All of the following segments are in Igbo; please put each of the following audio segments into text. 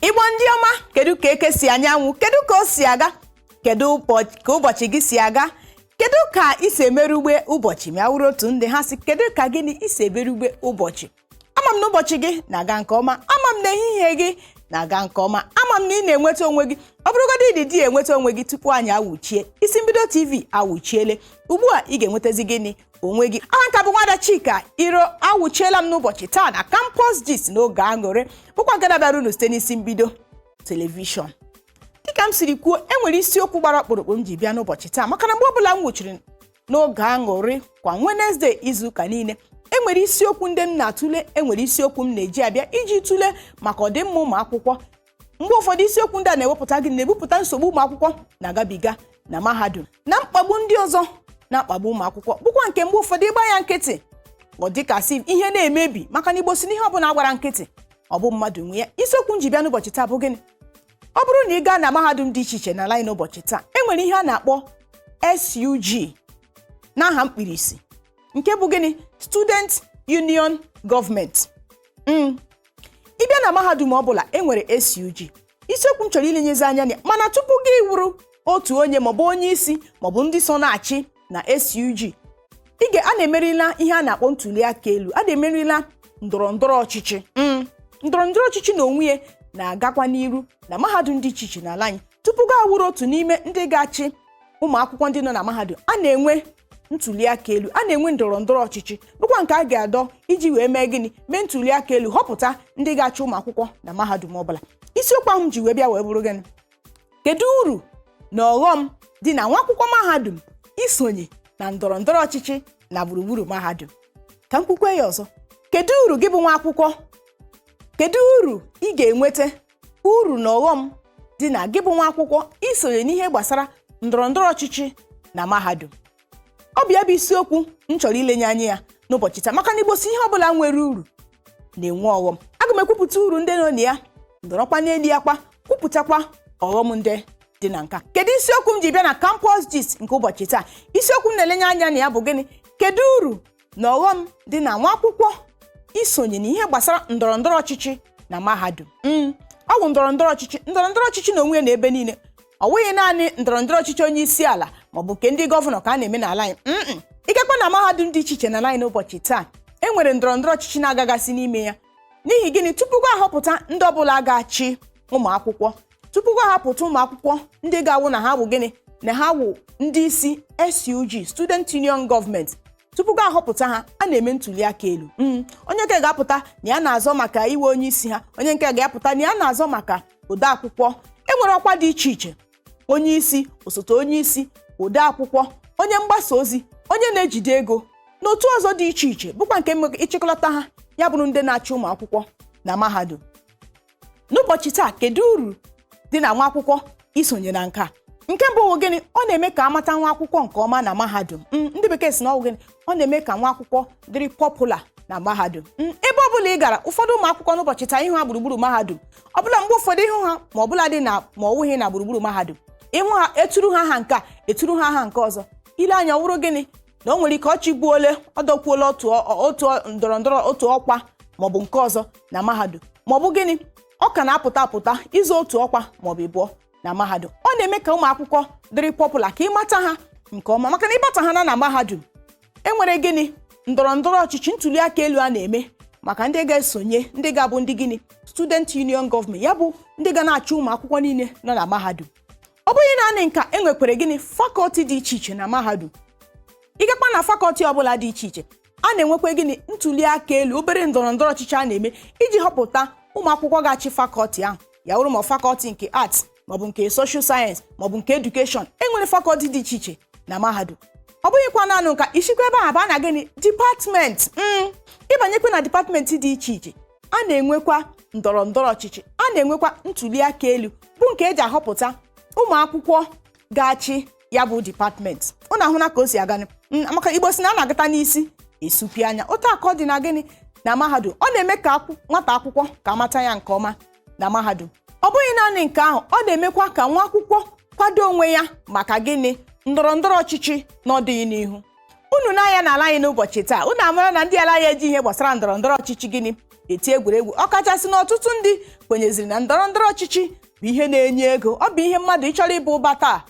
igbo ndị ọma kedu ka eke si anya anwụ kedu ka o si aga kedu ka ụbọchị gị si aga kedu ka i si emerụ ugbe ụbọchị ma ya wụrụ otu ndị ha si kedu ka gịnị i si emerụ ugbe ụbọchị ama m na ụbọchị gị na-aga nke ọma ama m na ehihie gị na-aga nke ọma ama m na ị na-enweta onwe gị ọ bụrụgodị ị dịghị enweta onwe gị tupu anyị awụchie isi mbido tv awụchiele ugbu a ị ga-enwetazi gịnị onwe gị aha m ka bụ nwada chika iro awụchiela m n'ụbọchị taa na campus gist n'oge aṅụrị bụkwa nke dabara unu site n'isi mbido telivishọn dịka m siri kwuo e nwere isiokwu gbara ọkpụrụkpụ m ji bịa n'ụbọchị taa maka na mgbe ọbụla m wụchiri n'oge aṅụrị kwa Wednesday izuụka niile e nwere isiokwu ndị m na-atụle e nwere isiokwu m na-eji abịa iji tụle maka ọdịmma ụmụ akwụkwọ mgbe ụfọdụ isiokwu ndị a na-ewepụta gị na-ebupụta nsogbu ụmụ akwụkwọ na-agabiga na mahadum na mkpagbu ndị ọzọ na-akpagbu ụmụ akwụkwọ bụkwa nke mgbe ụfọdụ ị gbaa ya nkịtị ọ dịka asị ihe na-emebi maka na igbo sị na ihe ọbụla gbara nkịtị ọ bụ mmadụ nwe ya isiokwu m ji bịa n'ụbọchị taa bụ gịnị ọ bụrụ na ị gaa na mahadum dị iche iche n'ala anyị n'ụbọchị taa e nwere ihe a na-akpọ SUG n'aha mkpirisi nke bụ gịnị Student Union Government Mm, ị bịa na mahadum ọ bụla e nwere SUG isiokwu m chọrọ ilenyezi anya na ya mana tupu gị awụrụ otu onye maọbụ onye isi maọbụ ndị so na-achị na SUG ị ga a na-emerila ihe a na-akpọ ntuli aka elu a na-emerila ndọrọ ndọrọ ọchịchị Mm. ndọrọ ndọrọ ọchịchị na onwe ya na-agakwa n'iru na mahadum dị iche iche n'ala anyị tupu gị awụrụ otu n'ime ndị ga-achị ụmụ akwụkwọ ndị nọ na mahadum a na-enwe ntuli aka elu a na-enwe ndọrọ ndọrọ ọchịchị bụkwa nke a ga-adọ iji wee mee gịnị mee ntuli aka elu họpụta ndị ga-achị ụmụ akwụkwọ na mahadum ọbụla isiokwu ahụ m ji wee bịa wee bụrụ gịnị kedu uru na ọghọm dị na nwa akwụkwọ mahadum isonye na ndọrọ ndọrọ ọchịchị na gburugburu mahadum ka m kwukwe ya ọzọ kedu uru gị bụ nwa akwụkwọ kedu uru ị ga-enweta uru na ọghọm dị na gị bụ nwa akwụkwọ isonye n'ihe gbasara ndọrọ ndọrọ ọchịchị na mahadum ọ bụ ya bụ isiokwu m chọrọ ilenye anya ya n'ụbọchị taa maka na igbo sị ihe ọbụla nwere uru na-enwe ọghọm aga m ekwupụta uru ndị nọ na ya nọrọkwa n'elu ya kwa kwupụtakwa ọghọm ndị dị na nke a kedu isiokwu m ji bịa na campus gist nke ụbọchị taa isiokwu m na-elenye anya na ya bụ gịnị kedu uru na ọghọm dị na nwa akwụkwọ isonye na ihe gbasara ndọrọ ndọrọ ọchịchị na mahadum mm, ọ bụ ndọrọ ndọrọ ọchịchị ndọrọ ndọrọ ọchịchị na onwe ya na ebe niile ọ wụghị naanị ndọrọ ndọrọ ọchịchị onye isi ala maọbụ nke ndị gọvanọ ka a na-eme n'ala anyị mm, ị gakwa na mahadum dị iche iche n'ala anyị n'ụbọchị taa e nwere ndọrọ ndọrọ ọchịchị na-agagasị n'ime ya n'ihi gịnị tupu gị ahọpụta ndị ọbụla ga-achị ụmụ akwụkwọ tupu gị ahọpụta ụmụ akwụkwọ ndị ga-awụ na ha wụ gịnị na ha wụ ndị isi SUG Student Union Government tupu gị ahọpụta ha a na-eme ntuli aka elu Mm, onye nke ga-apụta na ya na-azọ maka ịwụ onye isi ha onye nke ga-apụta na ya na-azọ maka odeakwụkwọ e nwere ọkwa dị iche iche onye isi osote onye isi ode akwụkwọ onye mgbasa ozi onye na-ejide ego na otu ọzọ dị iche iche bụkwa nke nwe- ịchịkọlata ha ya bụrụ ndị na-achị ụmụ akwụkwọ na mahadum n'ụbọchị taa kedu uru dị na nwa akwụkwọ isonye na nke a nke mbụ wụ gịnị ọ na-eme ka amata nwa akwụkwọ nke ọma na mahadum Mm, ndị bekee si na ọ wụ gịnị ọ na-eme ka nwa akwụkwọ dịrị popular na mahadum Mm, ebe ọbụla ị gara ụfọdụ ụmụ akwụkwọ n'ụbọchị taa ịhụ ha gburugburu mahadum ọbụla mgbe ụfọdụ ịhụ ha ma ọbụladị na ma ọ wụghị na gburugburu mahadum ịhụ ha eturu ha aha nke a eturu ha aha nke ọzọ ile anya ọ wụrụ gịnị na o nwere ike ọ chịbuola ọ dọkwuola otu ọ- otu ọ- ndọrọ ndọrọ otu ọkwa maọbụ nke ọzọ na mahadum maọbụ gịnị ọ ka na-apụta apụta ịzọ otu ọkwa maọbụ ịbụọ na mahadum ọ na-eme ka ụmụ akwụkwọ dịrị popular ka amata ha nke ọma maka na ịbata ha na na mahadum enwere gịnị ndọrọ ndọrọ ọchịchị ntuli aka elu a na-eme maka ndị ga-esonye ndị ga-abụ ndị gịnị student union government ya bụ ndị ga na-achị ụmụ akwụkwọ niile nọ na mahadum ọ bụghị naanị nka enwekwere gịnị fakọlti dị iche iche na mahadum ịgakwa na fakọlti ọbụla dị iche iche a na-enwekwa gịnị ntuli aka elu obere ndọrọ ndọrọ ọchịchị a na-eme iji họpụta ụmụ akwụkwọ ga-achị fakọlti ahụ ya wụrụ ma fakọlti nke arts maọbụ nke social science maọbụ nke education enwere fakọlti dị iche iche na mahadum ọ bụghịkwa naanị nka isikwa ebe ahụ baa na gịnị dipatmenti mm ịbanyekwa na dipatmenti dị iche iche a na-enwekwa ndọrọ ndọrọ ọchịchị a na-enwekwa ntuli aka elu bụ nke eji ahọpụta ụmụ akwụkwọ ga-achị ya bụ dipatmenti unu ahụna ka o si aga maka igbo si na a na-agata n'isi esupi anya otu aka ọ dị na gịnị na mahadum ọ na-eme ka nwata akwụkwọ ka amata ya nke ọma na mahadum ọ bụghị naanị nke ahụ ọ na-emekwa ka nwa akwụkwọ kwado onwe ya maka gịnị ndọrọ ndọrọ ọchịchị n'ọdịnihu unu nee anya n'ala anyị n'ụbọchị taa unu amara na ndị ala ya eji ihe gbasara ndọrọ ndọrọ ọchịchị gịnị eti egwuregwu ọkachasị na ọtụtụ ndị kwenyeziri na ndọrọ ndọrọ ọchịchị bụ ihe na-enye ego ọ bụ ihe mmadụ ịchọrọ ịba ụba taa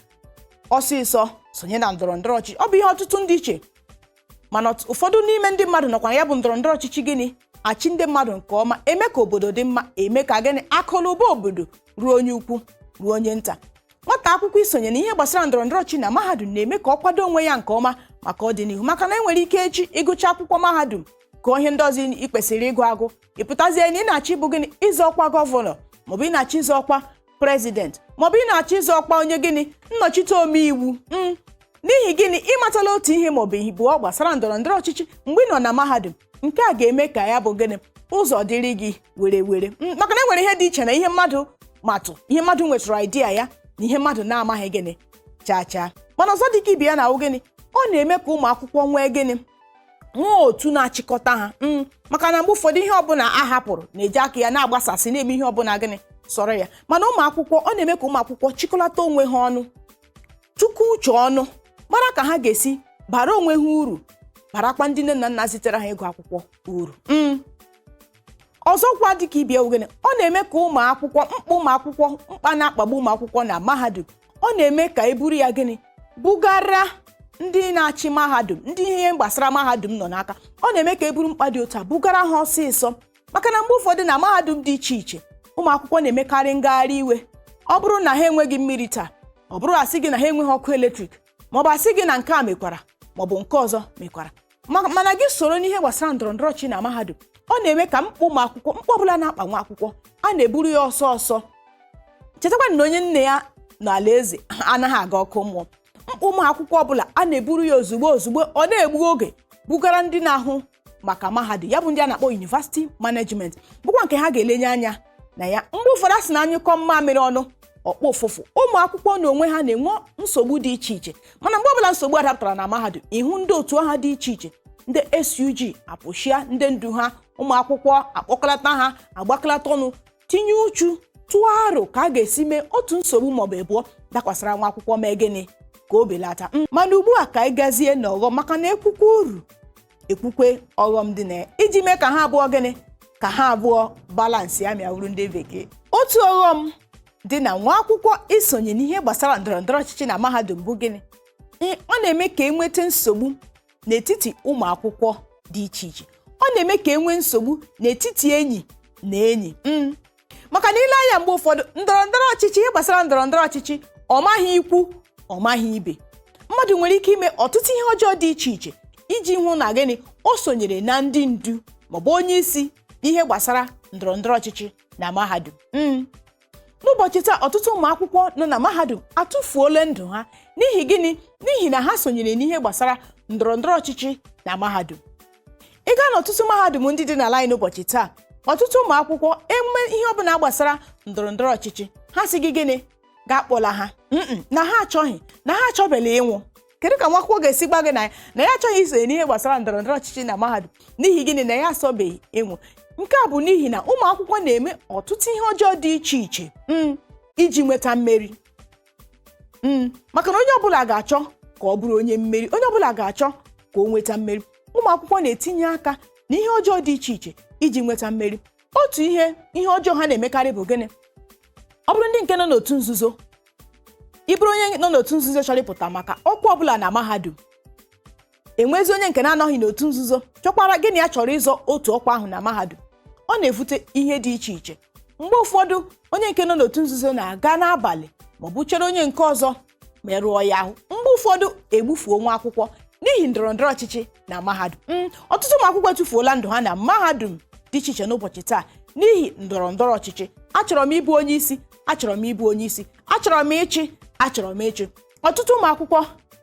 ọsịsọ sonye na ndọrọ ndọrọ ọchịchị ọ bụ ihe ọtụtụ ndị eche mana ọt- ụfọdụ n'ime ndị mmadụ nọkwa na ya bụ ndọrọ ndọrọ ọchịchị gịnị achị ndị mmadụ nke ọma eme ka obodo dị mma eme ka gịnị akụlụba obodo ruo onye ukwu ruo onye nta nwata akwụkwọ isonye na ihe gbasara ndọrọ ndọrọ ọchịchị na mahadum na-eme ka ọ kwado onwe ya nke ọma maka ọdịnihu maka na enwere ike echi ịgụcha akwụkwọ mahadum ka ihe ndị ọzọ ị kwesịrị ịgụ agụ ị pụtazie na ị na-achọ ịbụ gịnị ịzọ ọkwa gọvanọ maọbụ ị na-achọ ịzọ ọkwa prezident maọbụ ị na-achọ ịzọ ọkwa onye gịnị nnọchite omeiwu m n'ihi gịnị ịmatala otu ihe ma ọ bụ ịbụọ gbasara ndọrọ ndọrọ ọchịchị mgbe ị nọ na mahadum nke a ga-eme ka ya bụ gịnị ụzọ dịrị gị were were maka na enwere ihe dị iche na ihe mmadụ matụ ihe mmadụ nwetụrụ idea ya na ihe mmadụ na-amaghị gịnị chaa chaa mana ọzọ dị ka ibe ya na awụ gịnị ọ na-eme ka ụmụ akwụkwọ nwee gịnị nwee otu na-achịkọta ha mm, maka na mgbe ụfọdụ ihe ọbụla a hapụrụ na-eji aka ya na-agbasasị na-eme ihe ọbụla gịnị sọrọ ya mana ụmụ akwụkwọ ọ na-eme ka ụmụ akwụkwọ chịkọlata onwe ha ọnụ tụkọ uche ọnụ mara ka ha ga-esi bara onwe ha uru barakwa ndị nne na nna zitere ha ịgụ akwụkwọ uru mm. ọzọkwa dịka ibe ya wụ gịnị ọ na-eme ka ụmụ akwụkwọ mkpa ụmụ akwụkwọ mkpa na-akpagbu ụmụ akwụkwọ na mahadum ọ na-eme ka e buru ya gịnị bugara ndị na-achị mahadum ndị ihe gbasara mahadum nọ n'aka ọ na-eme ka e buru mkpa dị otu a bugara ha ọsịsọ maka na mgbe ụfọdụ na mahadum dị iche iche ụmụ akwụkwọ na-emekarị ngagharị iwe ọ bụrụ na ha enweghị mmiri taa ọ bụrụ a sị gị na ha enweghị ọkụ eletrik maọbụ a sị gị na nke a mekwara maọbụ nke ọzọ mekwara mana gị soro n'ihe gbasara ndọrọ ndọrọ ọchịchị na mahadum ọ na-eme ka mkpa ụmụ akwụkwọ mkpa ọbụla na-akpa nwa akwụkwọ a na-eburu ya ọsọ ọsọ chetakwa na onye nne ya nọ alaeze anaghị aga ọkụ mmụọ ụmụ akwụkwọ ọbụla a na-eburu ya ozugbo ozugbo n'egbughị oge bugara ndị na-ahụ maka mahadum ya bụ ndị a na-akpọ university management bụkwa nke ha ga-elenye anya na ya mgbe ụfọdụ a sị na a nyụkọọ mmamịrị ọnụ ọ gbọọ ụfụfụ ụmụ akwụkwọ n'onwe ha na-enwe nsogbu dị iche iche mana mgbe ọbụla nsogbu dapụtara na mahadum ị hụ ndị otu ha dị iche iche ndị SUG apụchia ndị ndu ha ụmụ akwụkwọ akpọkọlata ha agbakọlata ọnụ tinye uchu tụọ aro ka a ga-esi mee otu nsogbu maọbụ ịbụọ dakwasara nwa akwụkwọ mee gịnị ka o belata Mm, mana ugbu a ka anyị gazie n'ọghọm maka na ekwukwe uru ekwukwe ọghọm dị na ya iji mee ka ha abụọ gịnị ka ha abụọ balansịa ma ya wụrụ ndị bekee otu ọghọm dị na nwa akwụkwọ isonye n'ihe gbasara ndọrọ ndọrọ ọchịchị na mahadum bụ gịnị Ee, ọ na-eme ka e nweta nsogbu n'etiti ụmụ akwụkwọ dị iche iche ọ na-eme ka e nwee nsogbu n'etiti enyi na enyi mm. maka na i lee anya mgbe ụfọdụ ndọrọ ndọrọ ọchịchị ihe gbasara ndọrọ ndọrọ ọchịchị ọ maghị ikwu ọ maghị ibe mmadụ nwere ike ime ọtụtụ ihe ọjọọ dị iche iche iji hụ na gịnị o sonyere na ndị ndu maọbụ onye isi n'ihe gbasara ndọrọ ndọrọ ọchịchị na mahadum mm. n'ụbọchị taa ọtụtụ ụmụ akwụkwọ nọ na mahadum atụfuola ndụ ha n'ihi gịnị n'ihi na ha sonyere n'ihe gbasara ndọrọ ndọrọ ọchịchị na mahadum ị gaa n'ọtụtụ mahadum ndị dị n'ala anyị n'ụbọchị taa ọtụtụ ụmụ akwụkwọ e mewe ihe ọbụla gbasara ndọrọ ndọrọ ọchịchị ha sị gị gịnị gị akpọla ha Mm-mm, na ha achọghị na ha achọbeghị ịnwụ kedu ka nwa akwụkwọ ga-esi gwa gị na na ya achọghị isonye n'ihe gbasara ndọrọ ndọrọ ọchịchị na mahadum n'ihi gịnị na ya achọbeghị ịnwụ nke a bụ n'ihi na ụmụ akwụkwọ na-eme ọtụtụ ihe ọjọọ dị iche iche mm, iji nweta mmeri Mm, maka na onye ọbụla ga-achọ ka ọ bụrụ onye mmeri onye ọbụla ga-achọ ka o nweta mmeri ụmụ akwụkwọ na-etinye aka na ihe ọjọọ dị iche iche iji nweta mmeri otu ihe ọjọọ ha na-emekarị bụ gịnị ọ bụrụ ndị nke nọ n'otu nzuzo ị bụrụ onye nọ n'otu nzuzo chọrọ ịpụta maka ọkwa ọbụla na mahadum enwezi onye nke na-anọghị n'otu nzuzo chọkwara gịnị ya chọrọ ịzọ otu ọkwa ahụ na mahadum ọ na-evute ihe dị iche iche mgbe ụfọdụ onye nke nọ n'otu nzuzo na-aga n'abalị maọbụ chere onye nke ọzọ merụọ ya ahụ mgbe ụfọdụ egbufuo nwa akwụkwọ n'ihi ndọrọ ndọrọ ọchịchị na mahadum Mm, ọtụtụ ụmụ akwụkwọ etufuola ndụ ha na mahadum dị iche iche n'ụbọchị taa n'ihi ndọrọ ndọrọ ọchịchị achọrọ m ịbụ onye isi achọrọ m ịbụ onye isi achọrọ m ịchị achọrọ m ịchị ọtụtụ ụmụ akwụkwọ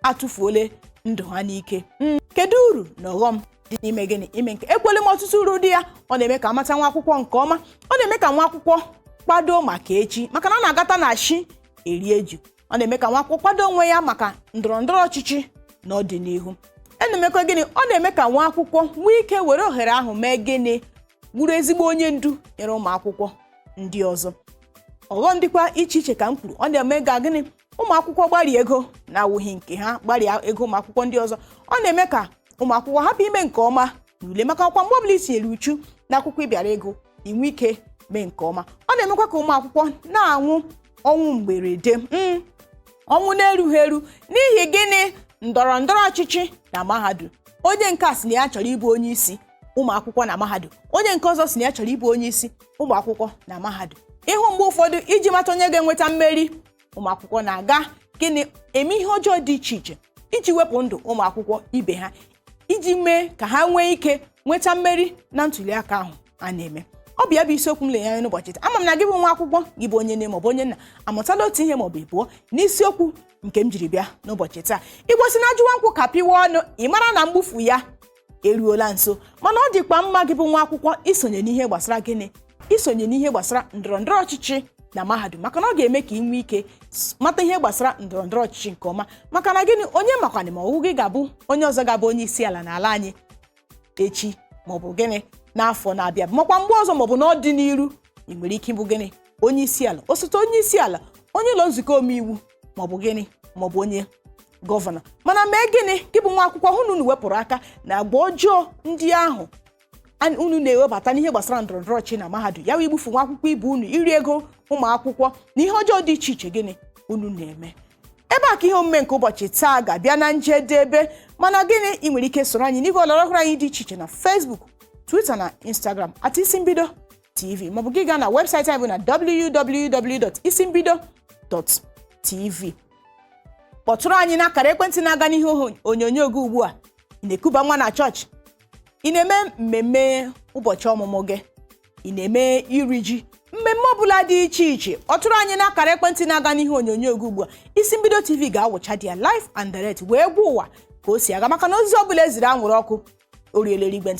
atụfuole ndụ ha n'ike hmm, kedu uru na ọghọm dị n'ime gịnị ime nke a ekwuole m ọtụtụ uru dị ya ọ na-eme ka a mata nwa akwụkwọ nke ọma ọ na-eme ka nwa akwụkwọ kwado maka echi maka na a na-agata na chi erie ji ọ na-eme ka nwa akwụkwọ kwado onwe ya maka ndọrọ ndọrọ ọchịchị n'ọdịnihu a na-emekwa gịnị ọ na-eme ka nwa akwụkwọ nwee ike were ohere ahụ mee gịnị bụrụ ezigbo onye ndu nyere ụmụ akwụkwọ ndị ọzọ ọghọm dịkwa iche iche ka m kwuru ọ na-eme ka gịnị ụmụ akwụkwọ gbarie ego na-awụghị nke ha gbarie ego ụmụ akwụkwọ ndị ọzọ ọ na-eme ka ụmụ akwụkwọ hapụ ime nke ọma n'ule maka ọkwa mgbe ọbụla i tinyere uchu na akwụkwọ ị bịara ịgụ i nwee ike mee nke ọma ọ na-emekwa ka ụmụ akwụkwọ na-anwụ ọnwụ mgberede mm, ọnwụ na-erughị eru n'ihi gịnị ndọrọ ndọrọ ọchịchị na mahadum onye nke a sị na ya chọrọ ịbụ onye isi ụmụ akwụkwọ na mahadum onye nke ọzọ sị na ya chọrọ ịbụ onye isi ụmụ akwụkwọ na mahadum ị hụ mgbe ụfọdụ iji mata onye ga-enweta mmeri ụmụ akwụkwọ na-aga gịnị eme ihe ọjọọ dị iche iche iji wepụ ndụ ụmụ akwụkwọ ibe ha iji mee ka ha nwee ike nweta mmeri na ntuliaka ahụ a na-eme ọ bụ ya bụ isiokwu m lenye anya n'ụbọchị taa ama m na gị bụ nwa akwụkwọ gị bụ onye nne maọbụ onye nna amụtala otu ihe maọbụ ịbụọ n'isiokwu nke m jiri bịa n'ụbọchị taa igbo sị na ajụwa nkwụ kapịwa ọnụ ị mara na mgbufu ya eruola nso mana ọ dịkwa mma gị bụ nwa akwụkwọ isonye n'ihe gbasara gịnị isonye n'ihe gbasara ndọrọ ndọrọ ọchịchị na mahadum maka na ọ ga-eme ka ị nwee ike s- mata ihe gbasara ndọrọ ndọrọ ọchịchị nke ọma maka na gịnị onye makwanị ma ọ wụ gị ga-abụ onye ọzọ ga-abụ onye isi ala n'ala anyị echi maọbụ gịnị n'afọ na-abịa makwa mgbe ọzọ maọbụ n'ọdịnihu ị nwere ike ịbụ gịnị onye isi ala osote onye isi ala onye ụlọ nzukọ omeiwu maọbụ gịnị maọbụ onye gọvanọ mana mee gịnị gị bụ nwa akwụkwọ hụ na unu wepụrụ aka na agwa ọjọọ ndị ahụ an- unu na-ewebata n'ihe gbasara ndọrọ ndọrọ ọchịchị na mahadum ya wee igbufu nwa akwụkwọ ibe unu iri ego ụmụ akwụkwọ na ihe ọjọọ dị iche iche gịnị unu na-eme ebe a ka ihe omume nke ụbọchị taa ga-abịa na njedebe mana gịnị ị nwere ike soro anyị n'igwe ọlọrọ ọhụrụ anyị dị iche iche na Facebook Twitter na Instagram at isi mbido TV maọbụ gị gaa na webụsaịtị anyị bụ na www.isimbido.tv kpọtụrụ anyị n'akara ekwentị na-aga n'ihe oho- onyonyo gị ugbu a ị na-ekuba nwa na chọọchị ị na-eme mmemme ụbọchị ọmụmụ gị ị na-eme iri ji mmemme ọbụla dị iche iche kpọtụrụ anyị n'akara ekwentị na-aga n'ihe onyonyo gị ugbu a isi mbido tv ga-awụcha there live and direct wee gwa ụwa ka o si aga maka na ozi ọbụla e ziri anwụrụ ọkụ o ruela eluigwe ntị